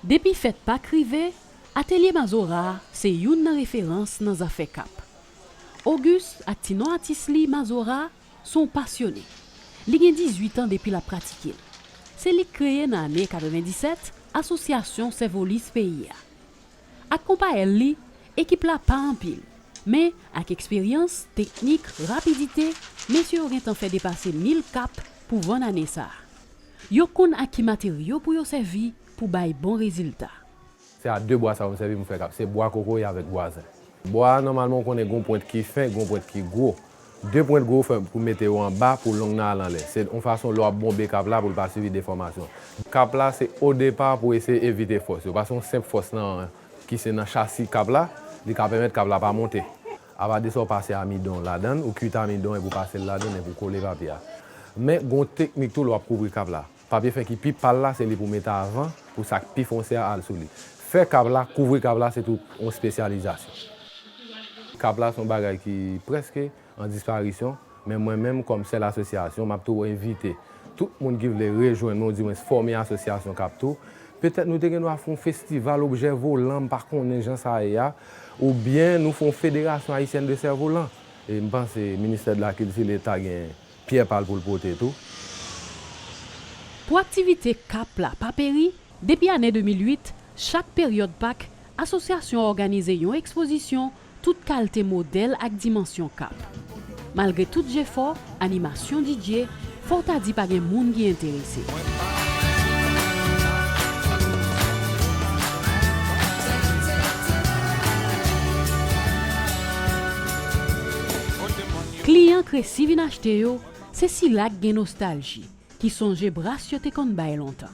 Depi fèt Pak rive, atelye Mazora se youn nan referans nan zafè kap. Auguste ak ti non atis li Mazora se yon pasyone. Li gen 18 an depi l ap pratike l. Se li k kreye nan ane 97 Asosyasyon Sèvolis peyi a. Ak konpayèl li, ekip la pa anpil, men ak eksperyans, teknik, rapidite, mesye yo gentan fè depase 1000 kap pou vann ane sa. Yo konn ak ki materyo pou yo sèvi pou bay bon rezilta. Se a 2 bwa sa yo m sèvi pou m fè kap, se bwa kokoye avèk bwa zen. Bwa a nòmalman ou konnen gen yon pwent ki fen, gen yon pwent ki gwo. 2 pwent gwo fè pou mete yo anba pou long nan al anlè. Se yon fason lè w ap bonbe kap la pou l pa sibi defòmasyon. Kap la se o depa pou eseye evite fòs yo. Paske yon senp fòs nan ki se nan chasi kap la, li ka pèmèt kap la pa monte. Apa de sa ou pase amidon ladan l, ou kuit amidon epi ou pase l ladan l epi ou kole papye a. Men gen yon teknik tou lè w ap kouvri kap la. Papye fen ki pi pal la se li pou mete avan pou sa k pi fonse a al sou li. Fè kav la, kouvri kav la se tou yon spesyalizasyon. Kav la se yon bagay ki prèske an disparisyon, men mwen menm kòm sèl asosyasyon m ap tou envite tout moun ki vle rejwenn nou odiwens fòme asosyasyon k ap tou. Petèt nou te gen dwa fè yon festival objè volan, m pa konnen jan sa ye a, oubyen nou fè yon federasyon ayisyèn de sèvolan. E m panse ministè de la kilti, leta gen. Pyè pa l pou l pote tou. Pou aktivite kap la pa peri, depi ane 2008, chak peryòd Pak, asosyasyon an òganize yon ekspozisyon tout kalte modèl ak dimansyon kap. Malgre tout jefò, animasyon DJ, fò w ta di pa gen moun ki enterese. Kliyan k resi vin achte yo se sila k gen nostalji, ki sonje bras yo te konn bay lontan.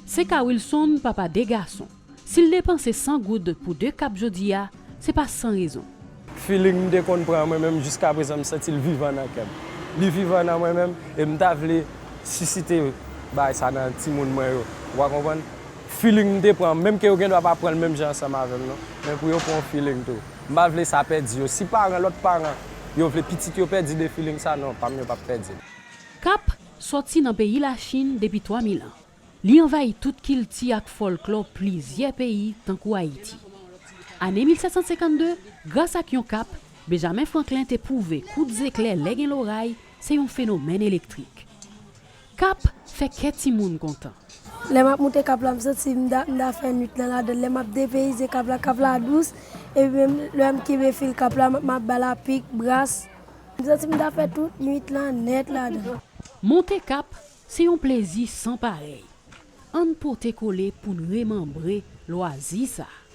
Se ka Wilson, papa de gason, si l depanse 100 goud pou de kap jodi a, se pa san rezon. Feeling m te konn pran mwen menm jiska prezan m santi l vivan nan kè m. Li vivan nan mwen menm e m ta vle sisite bagay sa nan timoun mwen yo. Ou a konprann? Feeling m te pran menm ke yo gendwa pa pran l menm jan ansanm avè m non, men pou yo pran w feeling tou. M pa vle sa pèdi yo. Si paran lòt paran yo vle pitit yo pèdi de feeling sa non, pa m yo p ap pèdi l. Kap sòti nan peyi Lachin depi 3000 an. Li anvayi tout kilti ak fòlklò plizyè peyi tankou Ayiti. Ane 1752, gras ak yon kap, Benjamin Franklin te pwouve kout zeklè lè gen loray se yon fenomèn elektrik. Kap fè kè timoun kontan. Lè map moute kap la m santi m ta m ta fè nwit nan ladann lè map depeyize kap la kap la dous epi menm lèm kenbe fil kap la map bal apik, bras. M santi m ta fè tout nwit lan nèt ladann. Monte kap se yon plezi san parèy ann pote kole poun remanbre lwazi sa.